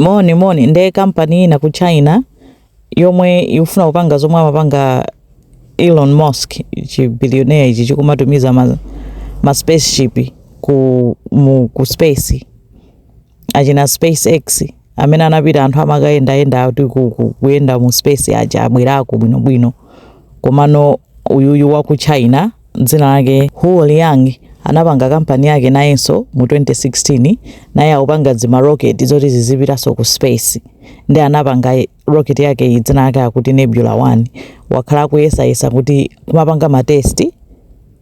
Moni moni nde kampani ina ku China yomwe ikufuna kupanga zomwe amapanga Elon Musk chi billionaire ichi chikumatumiza ma, ma spaceship ku mu, ku space achina SpaceX amene anapita anthu amakayendayenda kuti kuyenda mu space aja abwerako bwinobwino komano uyuyu wa ku China dzina lake Huo Liang anapanga kampani yake nayenso mu 2016 naye akupanga dzima rocket zoti zizipitanso ku space nde anapanga rocket yake iyi dzina lake akuti Nebula 1 wakhala akuyesayesa kuti kumapanga matesti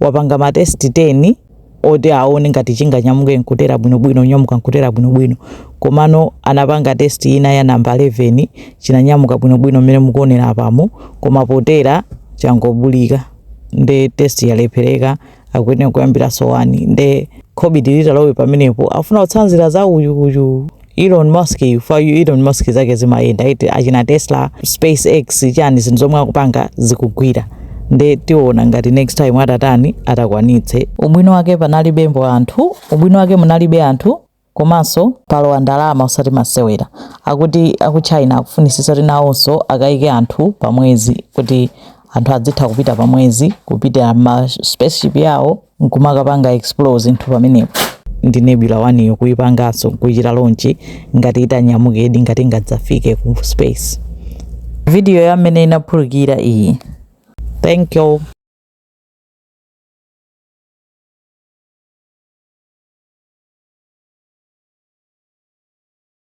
wapanga matesti 10 oti aone ngati chinganyamuke nkutera bwinobwino nyamuka nkutera bwinobwino komano anapanga test ina ya namba 11 chinanyamuka bwinobwino mmene mukuonera apamo koma potera changobulika nde test yalephereka akuyenera kuyambiranso wani nde khobidi litalowe pamenepo afuna kutsanzira za uyu uyu Elon Musk yu Elon Musk zake zimayenda iti achina Tesla SpaceX chani zinthu zomwe akupanga zikugwira nde tiona ngati next time atatani atakwanitse ubwino wake panalibemo anthu ubwino wake munalibe anthu komanso palowa ndalama osati masewera akuti aku China akufunisisa kuti nawonso akayike anthu pamwezi kuti anthu adzitha kupita pamwezi kupita ma spaceship yawo nkumakapanga explore zinthu pamenepo nde Nebula 1 yo kuyipanganso nkuchita launch ngati itanyamukedi ngati ngadzafike ku space video ya mmene inaphulikira iyi thank you